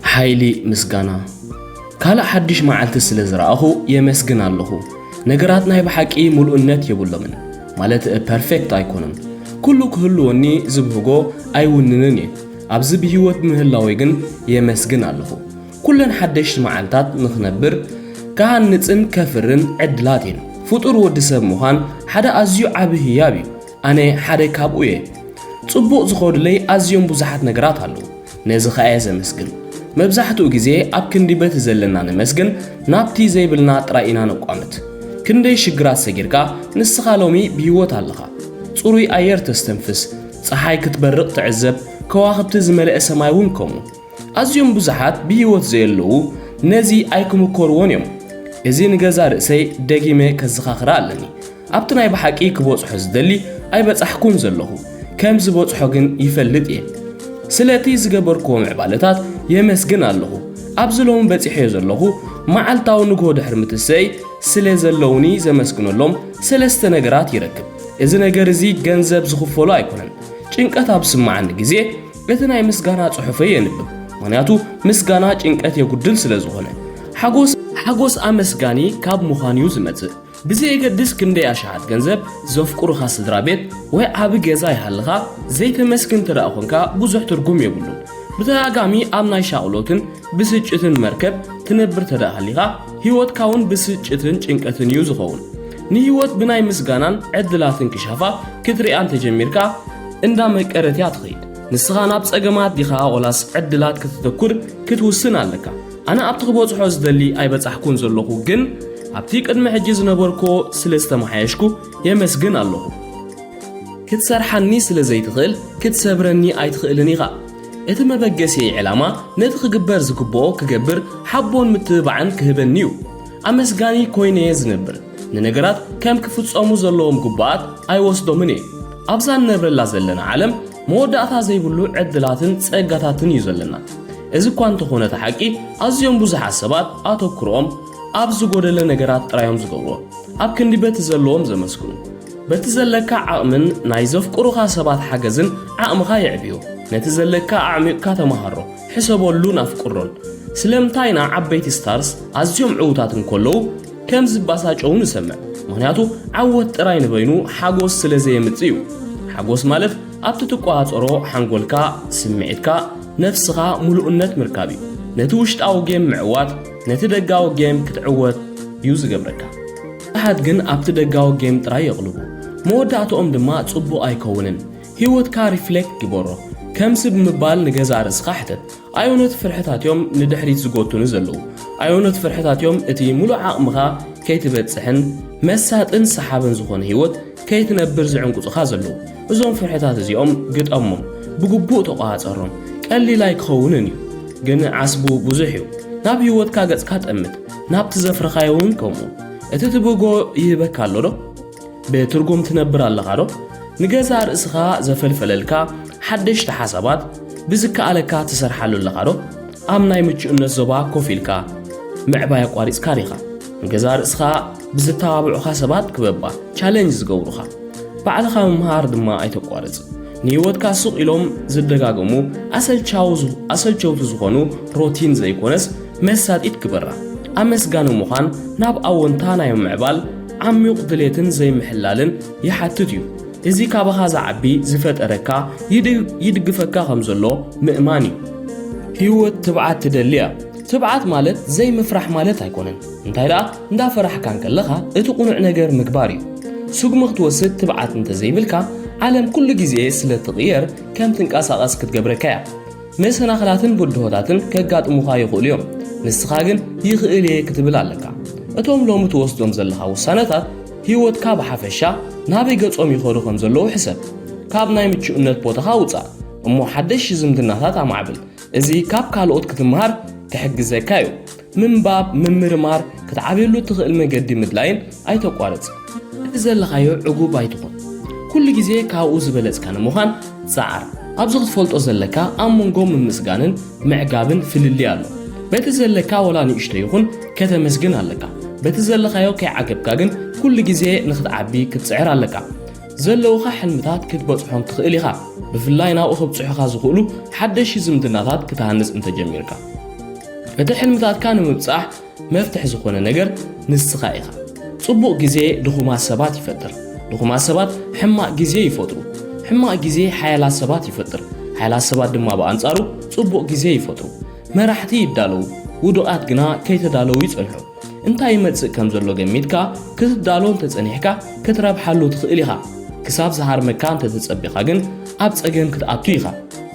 ሓይሊ ምስጋና ካልእ ሓድሽ መዓልቲ ስለ ዝረኣኹ የመስግን ኣለኹ። ነገራት ናይ ብሓቂ ምሉእነት የብሎምን፣ ማለት ፐርፌክት ኣይኮኑን። ኩሉ ክህልወኒ ዝብህጎ ኣይውንንን እየ፣ ኣብዚ ብህይወት ብምህላወይ ግን የመስግን ኣለኹ። ኩለን ሓደሽቲ መዓልታት ንኽነብር፣ ክሃንጽን ከፍርን ዕድላት እየን። ፍጡር ወዲ ሰብ ምዃን ሓደ ኣዝዩ ዓቢ ህያብ እዩ፣ ኣነ ሓደ ካብኡ እየ። ጽቡቕ ዝኸዱለይ ኣዝዮም ብዙሓት ነገራት ኣለዉ። ነዚ ኸኣ እየ ዘመስግን። መብዛሕትኡ ግዜ ኣብ ክንዲ በቲ ዘለና ነመስግን ናብቲ ዘይብልና ጥራይ ኢና ነቋምት። ክንደይ ሽግራት ሰጊርካ ንስኻ ሎሚ ብሂወት ኣለኻ። ጽሩይ ኣየር ተስተንፍስ፣ ጸሓይ ክትበርቕ ትዕዘብ፣ ከዋኽብቲ ዝመልአ ሰማይ እውን ከምኡ። ኣዝዮም ብዙሓት ብሂወት ዘየለዉ ነዚ ኣይክምኮርዎን እዮም። እዚ ንገዛእ ርእሰይ ደጊመ ከዘኻኽራ ኣለኒ። ኣብቲ ናይ ብሓቂ ክበጽሖ ዝደሊ ኣይበጻሕኩን ዘለኹ፣ ከም ዝበጽሖ ግን ይፈልጥ እየ። ስለቲ ዝገበርክዎ ምዕባለታት የመስግን ኣለኹ። ኣብዚ ሎሚ በጺሐዮ ዘለኹ መዓልታዊ ንግሆ ድሕሪ ምትሰእይ ስለ ዘለዉኒ ዘመስግነሎም ሰለስተ ነገራት ይረክብ። እዚ ነገር እዚ ገንዘብ ዝኽፈሎ ኣይኮነን። ጭንቀት ኣብ ዝስምዓኒ ግዜ እቲ ናይ ምስጋና ጽሑፈይ የንብብ፣ ምኽንያቱ ምስጋና ጭንቀት የጉድል ስለ ዝኾነ። ሓጎስ ኣመስጋኒ ካብ ምዃን'ዩ ዝመጽእ። ብዘየገድስ ክንደይ ኣሽሓት ገንዘብ፣ ዘፍቅሩኻ ስድራ ቤት፣ ወይ ዓቢ ገዛ ይሃልኻ፣ ዘይተመስግን እንተደኣ ኰንካ ብዙሕ ትርጕም የብሉን። ብተደጋጋሚ ኣብ ናይ ሻቕሎትን ብስጭትን መርከብ ትነብር እንተደኣ ሃሊኻ፣ ህይወትካ እውን ብስጭትን ጭንቀትን እዩ ዝኸውን። ንህይወት ብናይ ምስጋናን ዕድላትን ክሻፋ ክትርእያ እንተ ጀሚርካ፣ እንዳ መቀረት እያ ትኸይድ። ንስኻ ናብ ጸገማት ዲኻ ዋላስ ዕድላት ከተተኵር ክትውስን ኣለካ። ኣነ ኣብቲ ክበጽሖ ዝደሊ ኣይበጻሕኩን ዘለኹ ግን ኣብቲ ቅድሚ ሕጂ ዝነበርክዎ ስለ ዝተመሓየሽኩ የመስግን ኣለኹ። ክትሰርሓኒ ስለ ዘይትኽእል ክትሰብረኒ ኣይትኽእልን ኢኻ። እቲ መበገሲየይ ዕላማ ነቲ ክግበር ዝግብኦ ክገብር ሓቦን ምትብባዕን ክህበኒ እዩ። ኣመስጋኒ ኮይነየ ዝነብር። ንነገራት ከም ክፍጸሙ ዘለዎም ግቡኣት ኣይወስዶምን እየ። ኣብዛ እንነብረላ ዘለና ዓለም መወዳእታ ዘይብሉ ዕድላትን ጸጋታትን እዩ ዘለና። እዚ እኳ እንተኾነ እቲ ሓቂ ኣዝዮም ብዙሓት ሰባት ኣተኩሮኦም ኣብ ዝጎደለ ነገራት ጥራዮም ዝገብሮ ኣብ ክንዲ በቲ ዘለዎም ዘመስግኑ በቲ ዘለካ ዓቕምን ናይ ዘፍቅሩኻ ሰባት ሓገዝን ዓቕምኻ የዕብዮ ነቲ ዘለካ ኣዕሚቕካ ተመሃሮ ሕሰበሉን ኣፍቅሮን ስለምንታይ ኢና ዓበይቲ ስታርስ ኣዝዮም ዕዉታት እንከለዉ ከም ዝባሳጨው ንሰምዕ ምክንያቱ ዓወት ጥራይ ንበይኑ ሓጎስ ስለ ዘየምጽእ እዩ ሓጎስ ማለት ኣብቲ ትቆሃጸሮ ሓንጎልካ ስምዒትካ ነፍስኻ ምሉእነት ምርካብ እዩ ነቲ ውሽጣዊ ጌም ምዕዋት ነቲ ደጋዊ ጌም ክትዕወት እዩ ዝገብረካ ብዙሓት ግን ኣብቲ ደጋዊ ጌም ጥራይ የቕልቡ መወዳእትኦም ድማ ጽቡቕ ኣይከውንን ህይወትካ ሪፍሌክት ግበሮ ከም ስብ ምባል ንገዛእ ርእስኻ ሕተት ኣየኖት ፍርሕታት እዮም ንድሕሪት ዝጎቱኒ ዘለዉ? ኣየኖት ፍርሕታት እዮም እቲ ምሉእ ዓቕምኻ ከይትበጽሕን መሳጥን ሰሓብን ዝኾነ ህይወት ከይትነብር ዝዕንቁጽኻ ዘለዉ? እዞም ፍርሕታት እዚኦም ግጠሞም፣ ብግቡእ ተቆጻጸሮም። ቀሊል ኣይክኸውንን እዩ፣ ግን ዓስቡ ብዙሕ እዩ። ናብ ህይወትካ ገጽካ ጠምት፣ ናብቲ ዘፍረኻዮ እውን ከምኡ። እቲ ትብህጎ ይህበካ ኣሎዶ? ብትርጉም ትነብር ኣለኻ ዶ? ንገዛእ ርእስኻ ዘፈልፈለልካ ሓደሽቲ ሓሳባት ብዝከኣለካ ትሰርሓሉ ኣለኻ ዶ? ኣብ ናይ ምቹእነት ዞባ ኮፍ ኢልካ ምዕባይ ኣቋሪጽካ ዲኻ? ንገዛእ ርእስኻ ብዘተባብዑኻ ሰባት ክበባ፣ ቻለንጅ ዝገብሩኻ፣ ባዕልኻ ምምሃር ድማ ኣይተቋርጽ። ንህይወትካ ሱቕ ኢሎም ዝደጋገሙ ኣሰልቸውቲ ዝኾኑ ሮቲን ዘይኮነስ መሳጢት ግበራ። ኣመስጋኒ ምዃን ናብ ኣወንታ ናይ ምምዕባል ዓሚዩቕ ድሌትን ዘይምሕላልን ይሓትት እዩ። እዚ ካባኻ ዝዓቢ ዝፈጠረካ ይድግፈካ ከም ዘሎ ምእማን እዩ። ህይወት ትብዓት ትደሊ እያ። ትብዓት ማለት ዘይምፍራሕ ማለት ኣይኮነን። እንታይ ደኣ እንዳ ፈራሕካ እንከለኻ እቲ ቁኑዕ ነገር ምግባር እዩ። ስጉሚ ክትወስድ ትብዓት እንተዘይብልካ ዓለም ኩሉ ግዜ ስለ ትቕየር ከም ትንቀሳቐስ ክትገብረካ እያ። መሰናኽላትን ብድሆታትን ከጋጥሙኻ ይኽእሉ እዮም፣ ንስኻ ግን ይኽእል እየ ክትብል ኣለካ። እቶም ሎሚ ትወስዶም ዘለኻ ውሳነታት ህይወትካ ብሓፈሻ ናበይ ገጾም ይኸዱ ከም ዘለዉ ሕሰብ። ካብ ናይ ምቹእነት ቦታኻ ውጻእ እሞ ሓደሽ ዝምድናታት ኣማዕብል፣ እዚ ካብ ካልኦት ክትመሃር ክሕግዘካ እዩ። ምንባብ፣ ምምርማር፣ ክትዓብየሉ እትኽእል መገዲ ምድላይን ኣይተቋርጽ። እቲ ዘለኻዮ ዕጉብ ኣይትኹን። ኩሉ ግዜ ካብኡ ዝበለጽካ ንምዃን ጸዓር። ኣብዚ ክትፈልጦ ዘለካ ኣብ መንጎ ምምስጋንን ምዕጋብን ፍልልይ ኣሎ። በቲ ዘለካ ወላ ንእሽቶ ይኹን ከተመስግን ኣለካ። በቲ ዘለኻዮ ከይዓገብካ ግን ኩሉ ግዜ ንኽትዓቢ ክትጽዕር ኣለካ። ዘለዉኻ ሕልምታት ክትበጽሖም ትኽእል ኢኻ፣ ብፍላይ ናብኡ ከብጽሑኻ ዝኽእሉ ሓደሽቲ ዝምድናታት ክትሃንጽ እንተ ጀሚርካ። እቲ ሕልምታትካ ንምብጻሕ መፍትሕ ዝኾነ ነገር ንስኻ ኢኻ። ጽቡቕ ግዜ ድኹማት ሰባት ይፈጥር፣ ድኹማት ሰባት ሕማቕ ግዜ ይፈጥሩ፣ ሕማቕ ግዜ ሓያላት ሰባት ይፈጥር፣ ሓያላት ሰባት ድማ ብኣንጻሩ ጽቡቕ ግዜ ይፈጥሩ። መራሕቲ ይዳለዉ፣ ውዱቓት ግና ከይተዳለዉ ይጸንሑ። እንታይ ይመጽእ ከም ዘሎ ገሚትካ ክትዳሎ እንተጸኒሕካ ክትረብሓሉ ትኽእል ኢኻ። ክሳብ ዝሃርመካ እንተተጸቢኻ ግን ኣብ ጸገም ክትኣቱ ኢኻ።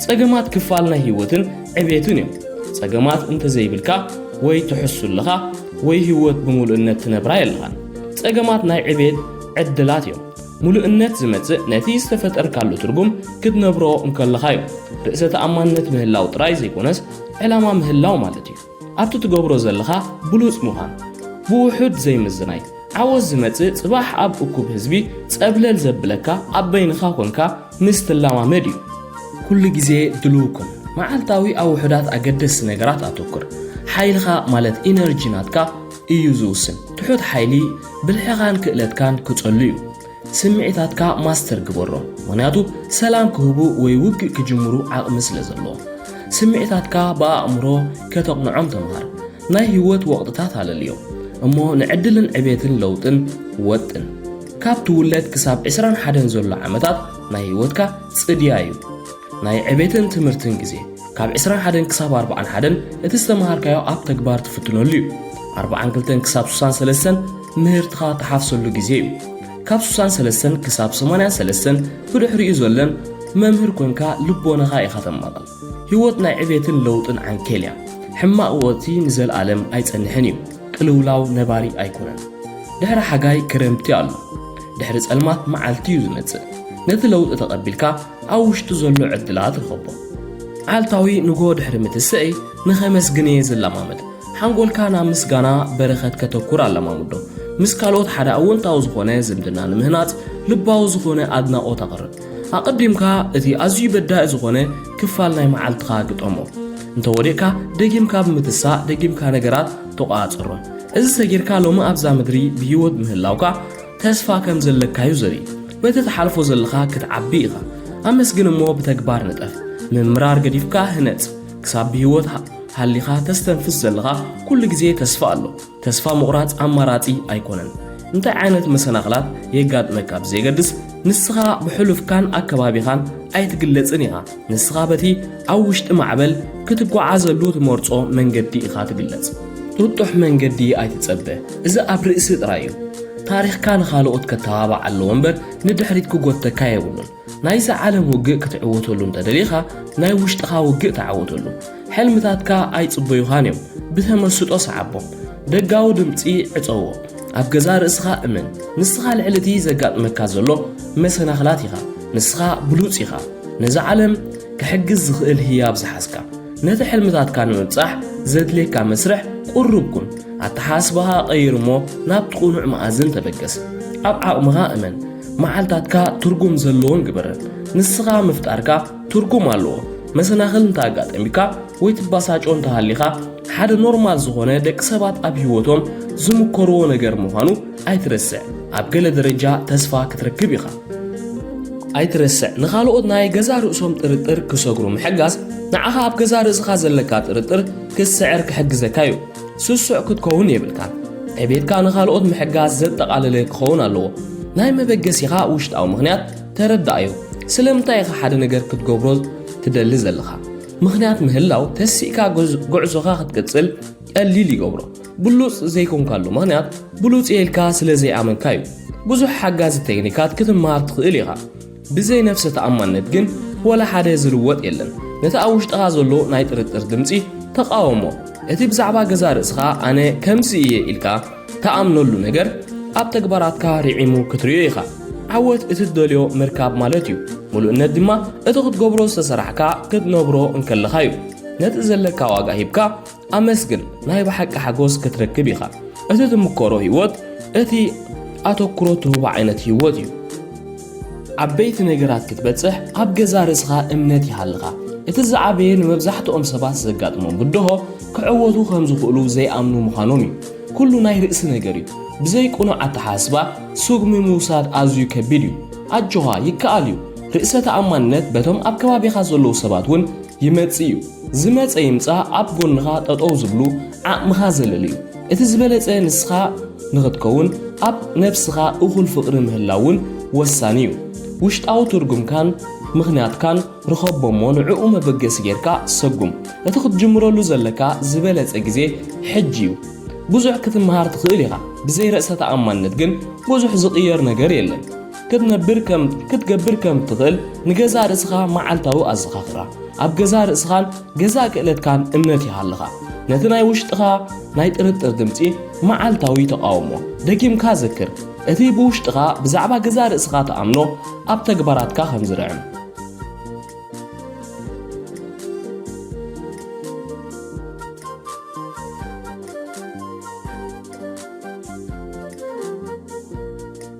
ጸገማት ክፋል ናይ ህይወትን ዕቤትን እዮም። ጸገማት እንተዘይብልካ ወይ ትሕሱ ኣለኻ ወይ ህይወት ብምሉእነት ትነብራ የለኻን። ጸገማት ናይ ዕቤት ዕድላት እዮም። ምሉእነት ዝመጽእ ነቲ ዝተፈጠርካሉ ትርጉም ክትነብሮ እንከለኻ እዩ። ርእሰ ተኣማንነት ምህላው ጥራይ ዘይኮነስ ዕላማ ምህላው ማለት እዩ። ኣብቲ ትገብሮ ዘለኻ ብሉጽ ምዃን፣ ብውሑድ ዘይምዝናይ፣ ዓወት ዝመጽእ ጽባሕ ኣብ እኩብ ህዝቢ ጸብለል ዘብለካ ኣብ በይንኻ ኮንካ ምስ ትለማመድ እዩ። ኩሉ ግዜ ድሉው ኩን፣ መዓልታዊ ኣብ ውሑዳት ኣገደስቲ ነገራት ኣተኩር። ሓይልኻ ማለት ኢነርጂ ናትካ እዩ ዝውስን፣ ትሑት ሓይሊ ብልሕኻን ክእለትካን ክጸሉ እዩ። ስምዒታትካ ማስተር ግበሮ፣ ምኽንያቱ ሰላም ክህቡ ወይ ውግእ ክጅምሩ ዓቕሚ ስለ ዘለዎም። ስምዒታትካ ብኣእምሮ ከተቕንዖም ተምሃር። ናይ ህይወት ወቕጥታት ኣለልዮም እሞ ንዕድልን ዕቤትን ለውጥን ወጥን። ካብ ትውለድ ክሳብ ዕስራን ሓደን ዘሎ ዓመታት ናይ ህይወትካ ጽድያ እዩ። ናይ ዕቤትን ትምህርትን ግዜ ካብ ዕስራን ሓደን ክሳብ ኣርብዓን ሓደን እቲ ዝተምሃርካዮ ኣብ ተግባር ትፍትነሉ እዩ። ኣርብዓን ክልተን ክሳብ ሱሳን ሰለስተን ምህርትኻ ትሓፍሰሉ ግዜ እዩ። ካብ ሱሳን ሰለስተን ክሳብ ሰማንያን ሰለስተን ብድሕሪኡ ዘለን መምህር ኮንካ ልቦናኻ ኢኻ ተማቕል። ህይወት ናይ ዕቤትን ለውጥን ዓንኬል እያ። ሕማቕ ወቕቲ ንዘልኣለም ኣይጸንሕን እዩ። ቅልውላው ነባሪ ኣይኮነን። ድሕሪ ሓጋይ ክረምቲ ኣሎ። ድሕሪ ጸልማት መዓልቲ እዩ ዝመጽእ። ነቲ ለውጢ ተቐቢልካ ኣብ ውሽጡ ዘሎ ዕድላት ርኸቦ። መዓልታዊ ንግሆ ድሕሪ ምትስእይ ንኸመስግን እየ ዝለማመድ። ሓንጎልካ ናብ ምስጋና በረኸት ከተኩር ኣለማምዶ። ምስ ካልኦት ሓደ ኣወንታዊ ዝኾነ ዝምድና ንምህናጽ ልባዊ ዝኾነ ኣድናቖት ኣቕርብ። ኣቐዲምካ እቲ ኣዝዩ በዳኢ ዝኾነ ክፋል ናይ መዓልትኻ ግጠሞ። እንተወዲቕካ ደጊምካ ብምትሳእ ደጊምካ ነገራት ተቖጻጸሮም። እዚ ሰጊርካ ሎሚ ኣብዛ ምድሪ ብህይወት ምህላውካ ተስፋ ከም ዘለካዩ ዘርኢ በቲ ትሓልፎ ዘለኻ ክትዓቢ ኢኻ ኣመስግን እሞ ብተግባር ንጠፍ ምምራር ገዲፍካ ህነጽ ክሳብ ብህይወት ሃሊኻ ተስተንፍስ ዘለኻ ኩሉ ግዜ ተስፋ ኣሎ ተስፋ ምቑራጽ ኣማራጺ ኣይኮነን እንታይ ዓይነት መሰናኽላት የጋጥመካ ብዘየገድስ ንስኻ ብሕሉፍካን ኣከባቢኻን ኣይትግለጽን ኢኻ ንስኻ በቲ ኣብ ውሽጢ ማዕበል ክትጓዓዘሉ ትመርጾ መንገዲ ኢኻ ትግለጽ። ጥጡሕ መንገዲ ኣይትጸበ፣ እዚ ኣብ ርእሲ ጥራይ እዩ። ታሪኽካ ንኻልኦት ከተባባዕ ኣለዎ እምበር ንድሕሪት ክጎተካ የብሉን። ናይዛ ዓለም ውግእ ክትዕወተሉ እንተደሊኻ ናይ ውሽጥኻ ውግእ ተዓወተሉ። ሕልምታትካ ኣይጽበዩኻን እዮም፣ ብተመስጦ ስዓቦም። ደጋዊ ድምጺ ዕጸዎ። ኣብ ገዛእ ርእስኻ እመን። ንስኻ ልዕሊ እቲ ዘጋጥመካ ዘሎ መሰናኽላት ኢኻ። ንስኻ ብሉጽ ኢኻ። ነዛ ዓለም ክሕግዝ ዝኽእል ህያብ ዝሓዝካ። ነቲ ሕልምታትካ ንምብጻሕ ዘድልየካ መስርሕ ቁሩብ ኩን። ኣተሓሳስባኻ ቀይር እሞ ናብቲ ቅኑዕ መኣዝን ተበገስ። ኣብ ዓቕምኻ እመን። መዓልታትካ ትርጉም ዘለዎን ግበረን። ንስኻ ምፍጣርካ ትርጉም ኣለዎ። መሰናኽል እንተ ኣጋጠሚካ ወይ ትባሳጮ እንተሃሊኻ ሓደ ኖርማል ዝኾነ ደቂ ሰባት ኣብ ህይወቶም ዝምኮርዎ ነገር ምዃኑ ኣይትረስዕ። ኣብ ገለ ደረጃ ተስፋ ክትረክብ ኢኻ። ኣይትረስዕ፣ ንኻልኦት ናይ ገዛ ርእሶም ጥርጥር ክሰግሩ ምሕጋዝ ንዓኻ ኣብ ገዛ ርእስኻ ዘለካ ጥርጥር ክትስዕር ክሕግዘካ እዩ። ስሱዕ ክትከውን የብልካን። ዕቤትካ ንኻልኦት ምሕጋዝ ዘጠቓለለ ክኸውን ኣለዎ። ናይ መበገሲኻ ውሽጣዊ ምኽንያት ተረዳኣዮ ስለምንታይ ኢኻ ሓደ ነገር ክትገብሮ ትደሊ ዘለኻ ምኽንያት ምህላው ተሲእካ ጉዕዞኻ ክትቅጽል ቀሊል ይገብሮ ብሉጽ ዘይኮንካሉ ምኽንያት ብሉጽ እየ ኢልካ ስለ ዘይኣመንካ እዩ ብዙሕ ሓጋዚ ቴክኒካት ክትመሃር ትኽእል ኢኻ ብዘይ ነፍሰ ተኣማንነት ግን ወላ ሓደ ዝልወጥ የለን ነቲ ኣብ ውሽጥኻ ዘሎ ናይ ጥርጥር ድምፂ ተቃወሞ እቲ ብዛዕባ ገዛ ርእስኻ ኣነ ከምዚ እየ ኢልካ ትኣምነሉ ነገር ኣብ ተግባራትካ ርዒሙ ክትርእዮ ኢኻ። ዓወት እቲ ትደልዮ ምርካብ ማለት እዩ። ምሉእነት ድማ እቲ ክትገብሮ ዝተሰራሕካ ክትነብሮ እንከለኻ እዩ። ነቲ ዘለካ ዋጋ ሂብካ ኣመስግን፣ ናይ ብሓቂ ሓጎስ ክትረክብ ኢኻ። እቲ ትምከሮ ህይወት እቲ ኣተኩሮ ትህቦ ዓይነት ህይወት እዩ። ዓበይቲ ነገራት ክትበጽሕ ኣብ ገዛ ርእስኻ እምነት ይሃልኻ። እቲ ዝዓበየ ንመብዛሕትኦም ሰባት ዘጋጥሞም ብድሆ ክዕወቱ ከም ዝኽእሉ ዘይኣምኑ ምዃኖም እዩ። ኩሉ ናይ ርእሲ ነገር እዩ። ብዘይ ቅኑዕ ኣተሓሳስባ ስጉሚ ምውሳድ ኣዝዩ ከቢድ እዩ። ኣጆኻ ይከኣል እዩ። ርእሰ ተኣማንነት በቶም ኣብ ከባቢኻ ዘለዉ ሰባት እውን ይመጽእ እዩ። ዝመጸ ይምጻእ ኣብ ጎንኻ ጠጠው ዝብሉ ዓቕምኻ ዘለልዩ። እቲ ዝበለጸ ንስኻ ንኽትከውን ኣብ ነብስኻ እኹል ፍቕሪ ምህላው እውን ወሳኒ እዩ። ውሽጣዊ ትርጉምካን ምኽንያትካን ርኸቦ'ሞ ንዕኡ መበገሲ ጌርካ ሰጉም። እቲ ክትጅምረሉ ዘለካ ዝበለጸ ግዜ ሕጂ እዩ። ብዙሕ ክትመሃር ትኽእል ኢኻ፣ ብዘይ ርእሰ ተኣማንነት ግን ብዙሕ ዝቕየር ነገር የለን። ክትነብር ከም ክትገብር ከም እትኽእል ንገዛእ ርእስኻ መዓልታዊ ኣዘኻኽራ። ኣብ ገዛእ ርእስኻን ገዛእ ክእለትካን እምነት ይሃልኻ። ነቲ ናይ ውሽጥኻ ናይ ጥርጥር ድምጺ መዓልታዊ ተቓውሞ ደጊምካ ዘክር። እቲ ብውሽጥኻ ብዛዕባ ገዛእ ርእስኻ ትኣምኖ ኣብ ተግባራትካ ከም ዝርዕም